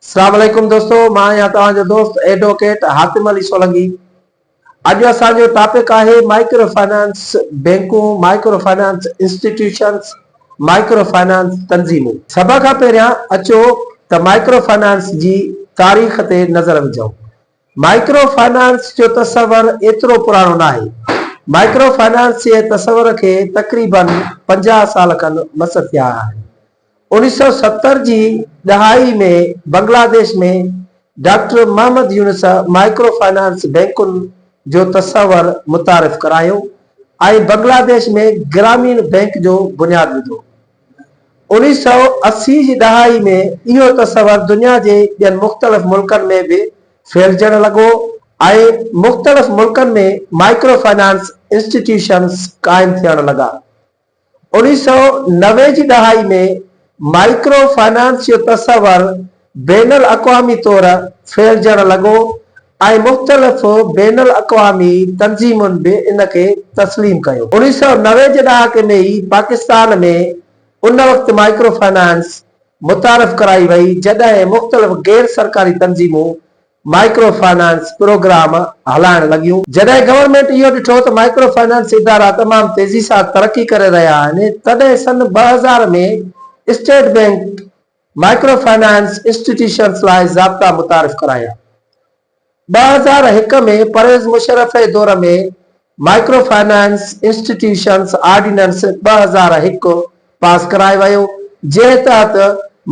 اسلام عليڪم دوستو مان آهيان توهان جو دوست ايڊووڪيٽ حاتم علي سولنگي اڄ اسان جو ٽاپڪ آهي مائڪرو فنانس بينڪون micro finance institutions micro finance تنظيمون سڀ کان پهريان اچو ته مائڪرو فنانس جي تاريخ تي نظر وجهون مائڪرو فنانس جو تصور ايترو پراڻو ناهي مائڪرو فنانس جي تصور کي تقريبن پنجاهه سال کن مس ٿيا آهن اوڻيھ سؤ ستر جي ڏهائي ۾ Bangladesh ۾ doctor Muhammad Yunus micro finance بئنڪن جو تصور متعارف ڪرايو ۽ بنگلاديش ۾ گراميڻ بئنڪ جو بنياد وڌو. اوڻيھ سؤ اسي جي ڏهائي ۾ اهو تصور دنيا جي ٻين مختلف ملڪن ۾ به ڦهلجڻ لڳو ۽ مختلف ملڪن ۾ مائيڪرو فنانس انسٽيٽيوشنز قائم ٿيڻ لڳا. اوڻيھ سؤ نوي جي ڏهائي ۾ مائيڪرو فنانس جو تصور بين الاقوامي طور ڦهلجڻ لڳو ۽ مختلف بين الاقوامي تنظيمن به ان کي تسليم ڪيو. اوڻيھ سؤ نوي جي ڏهاڪي ۾ ئي پاڪستان ۾ ان وقت مائيڪرو فنانس متعارف ڪرائي وئي جڏهن مختلف غير سرڪاري تنظيمون مائڪرو فنانس پروگرام هلائڻ لڳيون. جڏهن گورنمينٽ اهو ڏٺو ته مائڪرو فنانس ادارا تمام تيزي سان ترقي ڪري رهيا آهن، تڏهن سن ٻه هزار ۾ state bank micro finance institutions لاء ضابطا متعارف ڪرايا. ٻه هزار هڪ ۾ پرويز مشرف جي دور ۾ مائيڪرو فنانس انسٽيٽيوشنز آرڊيننس ٻه هزار هڪ پاس ڪرايو ويو، جنهن تحت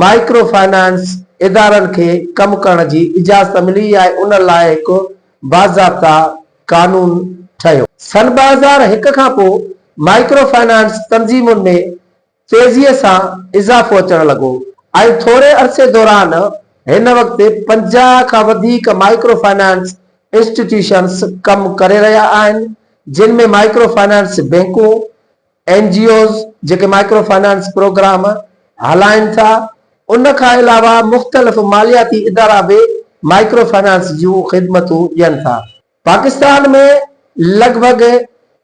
مائيڪرو فنانس ادارن کي ڪم ڪرڻ جي اجازت ملي ۽ ان لاء هڪ باضابطه قانون ٺهيو. سن ٻه هزار هڪ کان پوء مائيڪرو فنانس تنظيمن ۾ تيزيء سان اضافو اچڻ لڳو ۽ ٿوري عرصي دوران هن وقت پنجاهه کان وڌيڪ مائيڪرو فنانس انسٽيٽيوشنز ڪم ڪري رهيا آهن، جن ۾ مائيڪرو فنانس بئنڪون، اين جي اوز جيڪي مائيڪرو فنانس پروگرام هلائين ٿا، ان کان علاوه مختلف مالياتي ادارا به مائيڪرو فنانس جون خدمتون ڏين ٿا. پاڪستان ۾ لڳ ڀڳ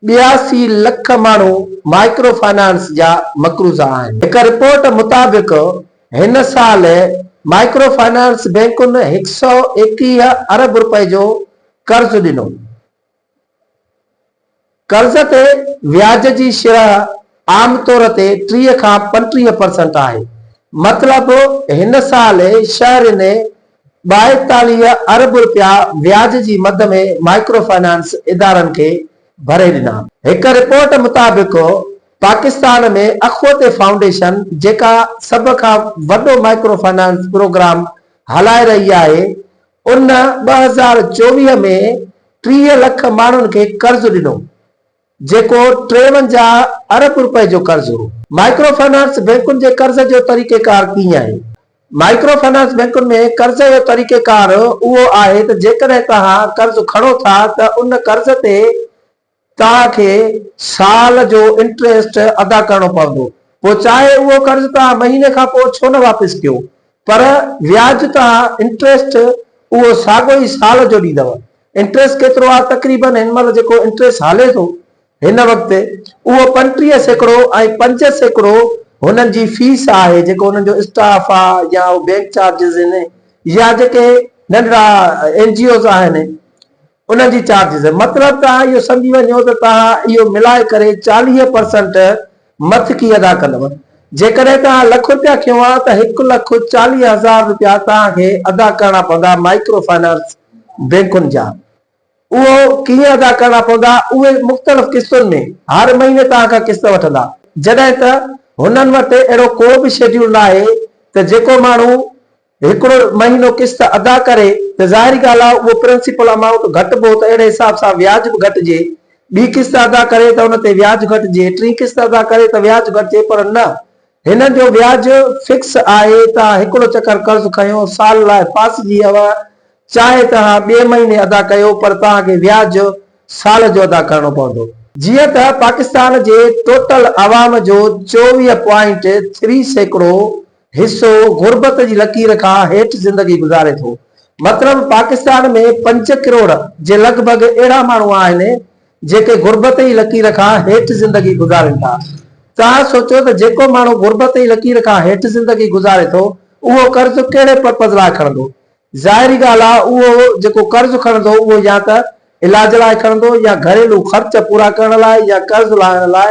ٻياسي لک ماڻهو مائڪرو فنانس جا مقروض آهن. هڪ رپورٽ مطابق هن سال مائڪرو فنانس بئنڪن هڪ سؤ ايڪيهه ارب رپئي جو قرض ڏنو. قرض تي وياج جي شرح عام طور تي ٽيهه کان پنٽيهه پرسنٽ آهي. مطلب هن سال شهر ۾ ٻائيتاليهه ارب رپيا وياج جي مد ۾ مائڪرو فنانس ادارن کي ڀري ڏنا. هڪ رپورٽ مطابق پاڪستان ۾ اخوت فائونڊيشن جيڪا سڀ کان وڏو مائڪرو فنانس پروگرام هلائي رهي آهي ان ٻه هزار چوويهه ۾ ٽيهه لک ماڻهن کي قرض ڏنو، جيڪو ٽيونجاهه ارب رپئي جو قرض هو. مائڪرو فنانس بئنڪن جي قرض جو طريقيڪار ڪيئن آهي؟ مائڪرو فنانس بئنڪن ۾ قرض جو طريقيڪار اهو آهي ته جيڪڏهن توهان قرض کڻو ٿا ته ان قرض تي توهان کي سال جو انٽريسٽ ادا ڪرڻو پوندو، پوء چاهي اهو قرض توهان مهيني کان پوء ڇو نه واپس ڪيو، پر وياج، توهان انٽريسٽ، اهو ساڳيو ئي سال جو ڏيندؤ. انٽريسٽ ڪيترو آهي؟ تقريبن هن مهل جيڪو انٽريسٽ هلي ٿو هن وقت، اهو پنٽيهه سيڪڙو ۽ پنج سيڪڙو هنن جي فيس آهي، جيڪو هنن جو اسٽاف آ يا اهو بينڪ چارجز هن يا جيڪي ننڍڙا اين جي اوز آهن، انهن جي چارجز مطلب ته اهو سمجهي وڃو ته توهان اهو ملائي ڪري چاليهه پرسنٽ مٿڪي ادا ڪندؤ. جيڪڏهن توهان لک رپيا کنيو ها ته هڪ لک چاليهه هزار رپيا توهان کي ادا ڪرڻا پوندا مائيڪرو فنانس بئنڪن جا. اهو ڪيئن ادا ڪرڻا پوندا؟ اهي مختلف قسطن ۾ هر مهيني توهان کان قسط وٺندا. جڏهن ته هنن وٽ اهڙو ڪو به شيڊيول ناهي ته جيڪو ماڻهو هڪڙو مهينو قسط ادا ڪري ته ظاهري ڳالهه آهي اهو پرنسپل امائونٽ گهٽبو ته اهڙي حساب سان وياج به گهٽجي، ٻي قسط ادا ڪري ته ان تي وياج گهٽجي، ٽين قسط ادا ڪري ته وياج گهٽجي پر نه هنن جو وياج فڪس آهي ته آء هڪڙو چڪر قرض کنيو سال لاء ڦاسجي اوهان چاهي ته اوهان ٻئي مهيني ادا ڪيو پر توهان کي وياج سال جو ادا ڪرڻو پوندو. جيئن ته پاڪستان جي ٽوٽل عوام جو چوويهه پوائنٽ ٿري سيڪڙو حصو غربت جي لڪير کان هيٺ زندگي گذاري ٿو. مطلب پاڪستان ۾ پنج ڪروڙ جي لڳ ڀڳ اهڙا ماڻهو آهن جيڪي غربت جي لڪير کان هيٺ زندگي گذارين ٿا. توهان سوچيو ته جيڪو ماڻهو غربت جي لڪير کان هيٺ زندگي گذاري ٿو اهو قرض ڪهڙي پرپز لاء کڻندو؟ ظاهري ڳالهه آهي اهو جيڪو قرض کڻندو اهو يا ته علاج لاء کڻندو يا گهريلو خرچ پورا ڪرڻ لاء يا قرض لاهڻ لاء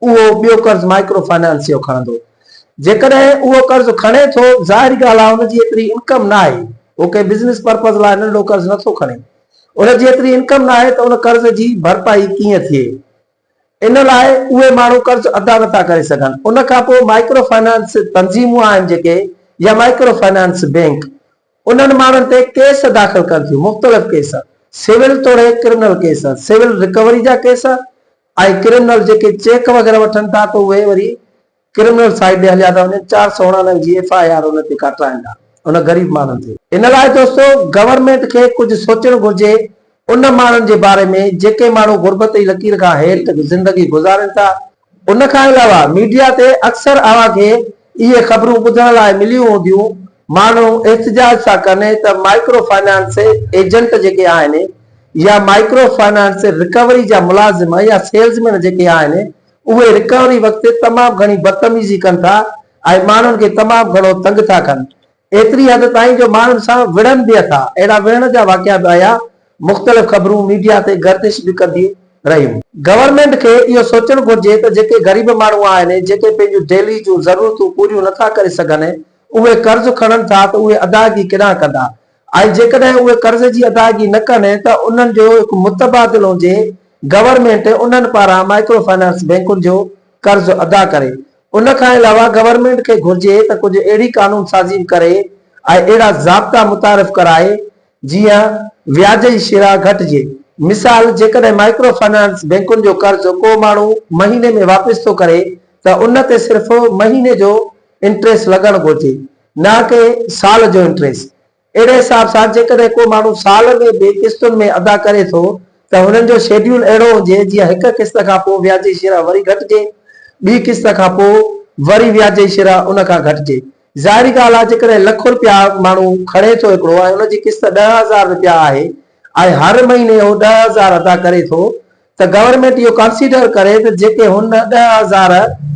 اهو ٻيو قرض مائيڪرو فنانسيو کڻندو. جيڪڏهن اهو قرض کڻي ٿو، ظاهري ڳالهه آهي ان جي ايتري انڪم ناهي. هو ڪنهن بزنس پرپز لاء ننڍو قرض نه ٿو کڻي. ان جي ايتري انڪم ناهي ته ان قرض جي ڀرپائي ڪيئن ٿئي. ان لاء اهي ماڻهو قرض ادا نه ٿا ڪري سگهن. ان کان پوء مائيڪرو فنانس تنظيمون آهن جيڪي يا مائيڪرو فنانس بئنڪ انهن ماڻهن تي ڪيس داخل ڪن ٿيون. مختلف ڪيس، سول توڙي ڪرمنل ڪيس، سول رڪوري جا ڪيس، ۽ ڪرمنل جيڪي چيڪ وغيره وٺن ٿا ته اهي وري ڪرمنل سائيڊ ڏي هليا ٿا وڃن چار سؤ اڻاڻوي جي ايف آء آر ان تي ڪاٽرائن ٿا ان غريب ماڻهن تي. ان لاء دوستو گورنمينٽ کي ڪجهه سوچڻ گهرجي ان ماڻهن جي باري ۾ جيڪي ماڻهو غربت جي لڪير کان هيٺ زندگي گذارين ٿا ان کان علاوه ميڊيا تي اڪثر اوهان کي اهي خبرون ٻڌڻ لاء مليون هونديون، ماڻهو احتجاج ٿا ڪن ته مائڪرو فنانس ايجنٽ جيڪي آهن يا مائڪرو فنانس رڪوري جا ملازم يا سيلز مين جيڪي آهن اهي رڪوري وقت تمام گهڻي بدتميزي ڪن ٿا ۽ ماڻهن کي تمام گهڻو تنگ ٿا ڪن ايتري حد تائين جو ماڻهن سان وڙهن به اٿا، اهڙا وڙهڻ جا واقعا به آيا، مختلف خبرون ميڊيا تي گردش به ڪنديون رهيون. گورنمينٽ کي اهو سوچڻ گهرجي ته جيڪي غريب ماڻهو آهن، جيڪي پنهنجون ديلي جون ضرورتون پوريون نٿا ڪري سگهن، اهي قرض کڻن ٿا ته اهي ادائگي ڪيڏانهن ڪندا ۽ جيڪڏهن اهي قرض جي ادائگي نه ڪن ته انهن جو هڪ متبادل هجي، گورنمينٽ انهن پاران مائڪرو فنانس بئنڪن جو قرض ادا ڪري، ان کان علاوه گورنمينٽ کي گهرجي ته ڪجهه اهڙي قانون سازي به ڪري ۽ اهڙا ضابطا متعارف ڪرائي جيئن وياج جي شرح گهٽجي. مثال جيڪڏهن مائڪرو فنانس بئنڪن جو قرض ڪو ماڻهو مهيني ۾ واپس ٿو ڪري ته ان تي صرف مهيني جو انٽريسٽ لڳڻ گهرجي نه ڪي سال جو انٽريسٽ. اهڙي حساب سان جيڪڏهن ڪو ماڻهو سال ۾ به قسطن ۾ ادا ڪري ٿو ته هنن جو شيڊيول اهڙو هجي جيئن هڪ قسط کان پوء وياج جي شرح وري گهٽجي، ٻي قسط کان پوء وري وياج جي شرح ان کان گهٽجي. ظاهري ڳالهه آهي جيڪڏهن لک رپيا ماڻهو کڻي ٿو هڪڙو ۽ ان جي قسط ڏهه هزار رپيا آهي ۽ هر مهيني هو ڏهه هزار ادا ڪري ٿو ته گورنمينٽ اهو ڪنسيڊر ڪري ته جيڪي هن ڏهه هزار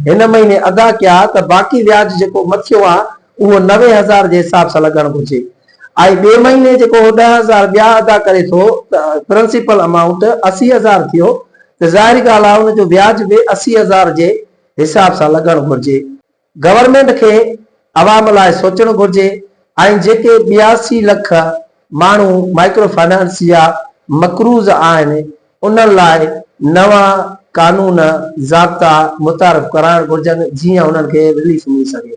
هن مهيني ادا ڪيا ته باقي وياج جيڪو مٿيون آ اهو نوي هزار جي حساب سان لڳڻ گهرجي ۽ ٻئي مهيني جيڪو هو ڏهه هزار ٻيا ادا ڪري ٿو ته پرنسپل امائونٽ اسي هزار ٿيو ته ظاهري ڳالهه آ ان جو وياج به اسي هزار جي حساب سان لڳڻ گهرجي. گورنمينٽ کي عوام لاء سوچڻ گهرجي ۽ جيڪي ٻياسي لک ماڻهو مائڪرو فنانس جا مقروض آهن انهن لاء نوان قانون ضابطا متعارف ڪرائڻ گهرجن جيئن انهن کي رليف ملي سگهي.